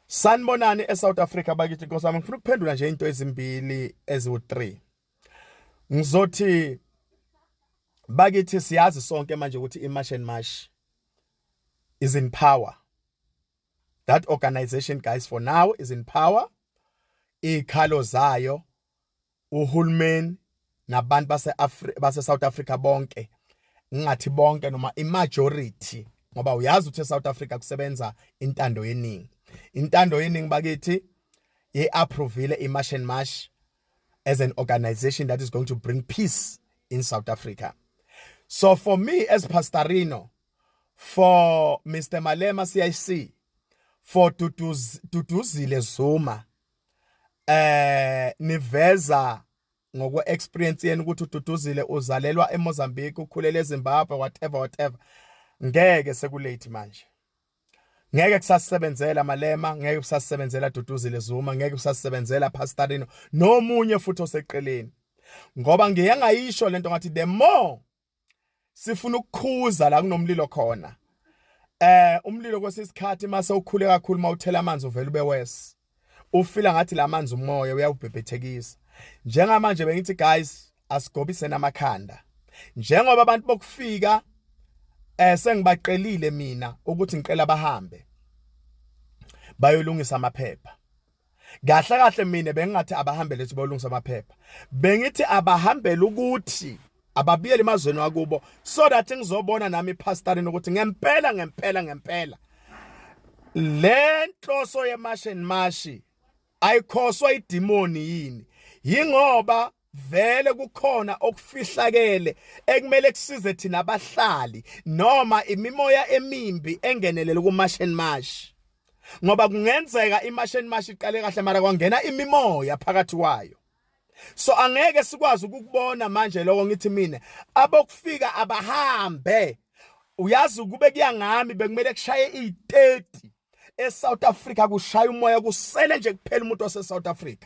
Sanibonani eSouth Africa bakithi Nkosi yami ngifuna ukuphendula nje into ezimbili eziwu3 ngizothi bakithi siyazi sonke manje ukuthi iMarch and March is in power that organization guys for now is in power ikhalo zayo uhulumeni nabantu base base South Africa bonke ngingathi bonke noma imajority ngoba uyazi ukuthi eSouth Africa kusebenza intando yeningi intando yeningi bakithi ye approvile iMarch and March as an organization that is going to bring peace in South Africa so for me as pastorino for Mr Malema CIC for Duduzile Zuma eh niveza ngokwe experience yenu ukuthi ududuzile uzalelwa eMozambique ukhulele eZimbabwe whatever whatever ngeke sekulate manje ngeke kusasebenzela malema ngeke kusasebenzela duduzile zuma ngeke kusasebenzela pastorino nomunye futhi oseqeleni ngoba ngiye ngayisho lento ngathi the more sifuna ukukhuza la kunomlilo khona eh umlilo kwesikhathi mase ukhule kakhulu mawuthela amanzi uvela ube worse ufila ngathi lamanzi umoya uyawubhebhethekisa njengamanje bengithi guys asigobise namakhanda njengoba abantu bokufika eh sengibaqelile mina ukuthi ngicela bahambe bayolungisa amaphepha kahle kahle mina bengingathi abahambele ukuthi bolungisa amaphepha bengithi abahambele ukuthi ababiyele emazweni wakubo so that ngizobona nami ipastorina ukuthi ngempela ngempela ngempela le nhloso yemashe nemashi ayikhoswa idimoni yini yingoba vele kukhona okufihlakele ekumele kusize thina abahlali noma imimoya emimbi engenelele kumasheni mashi ngoba kungenzeka imasheni mashi iqale kahle mara kwangena imimoya phakathi kwayo so angeke sikwazi ukukubona manje lokho ngithi mina abokufika abahambe uyazi ukube kuyangami bekumele kushaye i30 eSouth Africa kushaya umoya kusele nje kuphela umuntu waseSouth Africa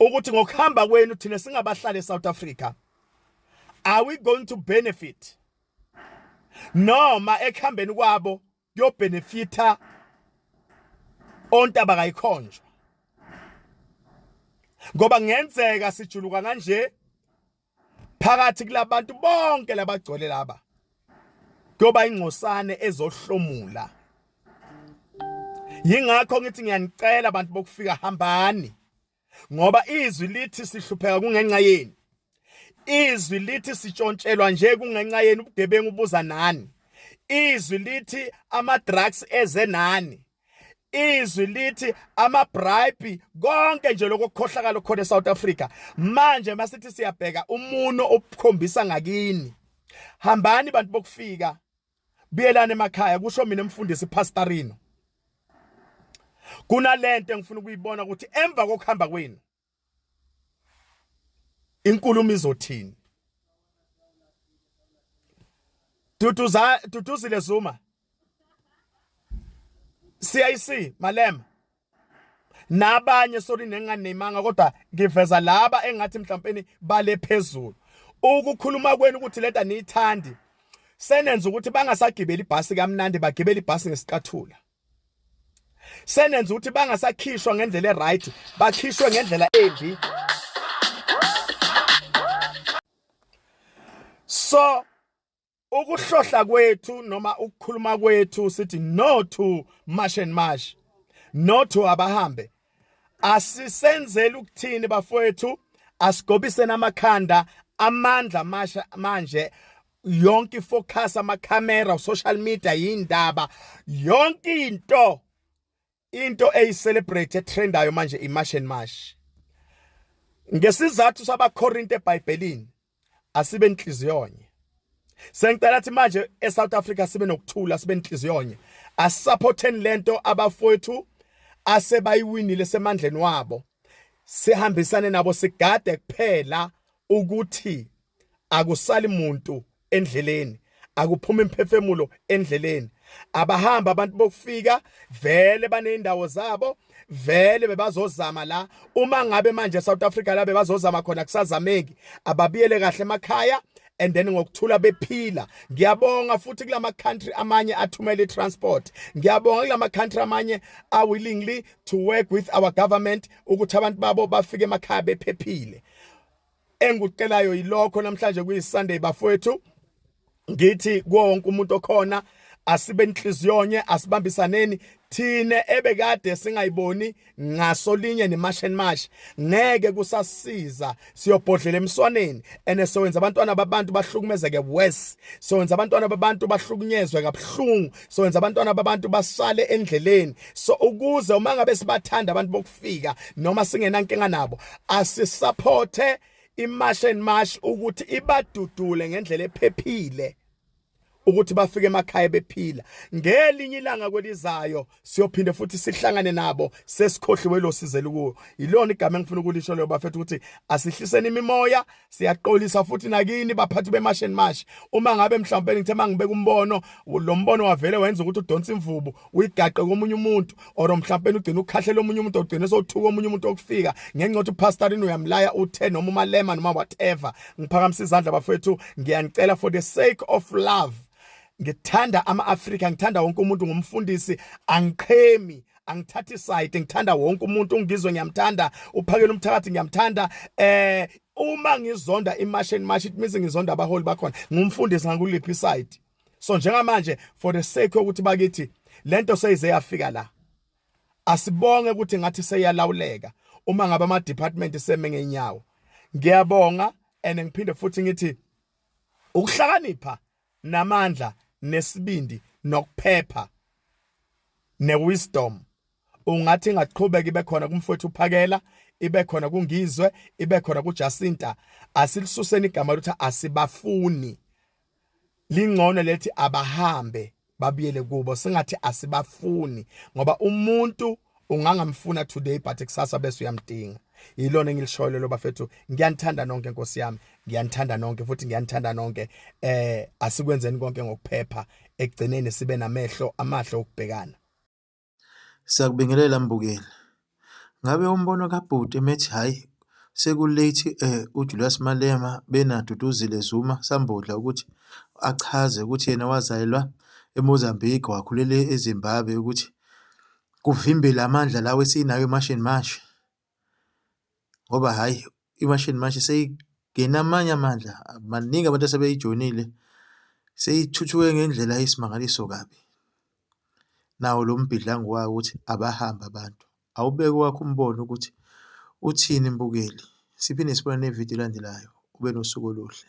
ukuthi ngokuhamba kwenu thina singabahlali eSouth Africa are we going to benefit noma ekuhambeni kwabo kuyobenefitha ontaba kayikhonjwa ngoba ngenzeka sijuluka kanje phakathi kulabantu bonke labagcwele laba kuyoba ingcosane ezohlomula yingakho ngithi ngiyanicela abantu bokufika hambani ngoba izwi lithi sihlupheka kungenxa yenu izwi lithi sitshontshelwa nje kungenxa yenu ubugebengu buza nani izwi lithi ama drugs eze nani izwi lithi amabribe konke nje lokukhohlakala khona eSouth Africa manje masithi siyabheka umuno obukhombisa ngakini hambani bantu bokufika buyelana emakhaya kusho mina mfundisi pastorino kunalento engifuna ukuyibona ukuthi emva kokuhamba kwenu inkulumo izothini Duduza Duduzile Zuma CIC Malema nabanye sorry nenganemanga kodwa ngiveza laba engathi mhlawumbe bale phezulu ukukhuluma kwenu ukuthi leta niyithandi senenza ukuthi bangasagibeli ibhasi kamnandi bagibele ibhasi ngesicathula senenza ukuthi bangasakhishwa ngendlela eright bakhishwe ngendlela embi so ukuhlohla kwethu noma ukukhuluma kwethu sithi no to march and march no to abahambe asisenzeli ukuthini bafowethu asigobiseni amakhanda amandla masha manje yonke ifocus amakhamera social media yindaba yonke into into eyicelebrate etrendayo manje imash and mash ngesizathu sabakorinte ebhayibhelini asibe inhliziyonye sengicela ukuthi manje eSouth Africa sibe nokuthula sibe inhliziyonye asisupporteni lento abafowethu asebayiwinile semandleni wabo sihambisane nabo sigade kuphela ukuthi akusali muntu endleleni akuphuma imphefemulo endleleni abahamba abantu bokufika vele baneyindawo zabo vele bebazozama la uma ngabe manje South Africa la bebazozama khona kusazameki ababiyele kahle emakhaya and then ngokuthula bephila ngiyabonga futhi kulama country amanye athumela itransport ngiyabonga kulama country amanye are willingly to work with our government ukuthi abantu babo bafike emakhaya bephephile engikucelayo yilokho namhlanje kuyisunday bafowethu ngithi konke umuntu okhona asibe inhliziyonye asibambisaneni thina ebekade singayiboni ngasolinye nemasheni mash ngeke kusasiza siyobhodlela emswaneni ene sowenza abantwana babantu bahlukumezeke worse sowenza abantwana babantu bahlukunyezwe kabuhlungu sowenza abantwana babantu basale endleleni so ukuze uma ngabe sibathanda abantu bayafika noma singenankinga nabo asisupporte imarch and march ukuthi ibadudule ngendlela ephephile ukuthi bafike emakhaya bephila ngelinye ilanga kwelizayo siyophinde futhi sihlangane nabo sesikhohliwe lo sizela kuwo yilona igama engifuna ukulisho leyo bafethu ukuthi asihliseni imimoya siyaxolisa futhi nakini baphathi bemash and mash uma ngabe mhlawumbe ngithe mangibeka umbono lo mbono wavele wenza ukuthi udonse imvubu uyigaqe komunye umuntu or mhlawumbe ugcina ukhahlela omunye umuntu ogcina sothuka omunye umuntu okufika ngenxa ukuthi pastor ini uyamlaya uthe noma umalema noma whatever ngiphakamisa izandla bafethu ngiyanicela for the sake of love ngithanda ama-afrika ngithanda wonke umuntu ngumfundisi angiqhemi angithathi isayidi ngithanda wonke umuntu ungizwe ngiyamthanda uphakela umthakathi ngiyamthanda eh uma ngizonda imash and mash it means ngizonda abaholi bakhona ngumfundisi ngakuliphi side so njengamanje for the sake ukuthi bakithi lento seyize yafika la asibonge ukuthi ngathi seyalawuleka uma ngabe ama department seme ngenyawo ngiyabonga and ngiphinde futhi ngithi ukuhlakanipha namandla nesibindi nokuphepha newisdom ungathi ingaqhubeka ibe khona kumfowethu uphakela ibe khona kungizwe ibe khona kuJacinta asilisuseni igama lokuthi asibafuni lingcono lethi abahambe babuyele kubo singathi asibafuni ngoba umuntu ungangamfuna today but kusasa bese uyamdinga yilona engilishoyo lelo bafethu ngiyanithanda nonke nkosi yami ngiyanithanda nonke futhi ngiyanithanda nonke eh asikwenzeni konke ngokuphepha ekugcineni sibe namehlo amahle okubhekana siyakubingelela mbukeli ngabe umbono kabhuti methi hayi sekulate eh uJulius Malema benaduduzile Zuma sambodla ukuthi achaze ukuthi yena wazalelwa eMozambique wakhulela eZimbabwe ukuthi kuvimbe la mandla lawa esinawo emashini manje ngoba hhayi imashini manje seyingena amanye amandla. Baningi abantu asebeyijoyinile, seyithuthuke ngendlela eyisimangaliso kabi. Nawo lo mbhidlango wawo ukuthi abahambe abantu, awubeke owakho umbono ukuthi uthini mbukeli. Siphinde sibone nevidiyo elandelayo. Ube nosuku oluhle.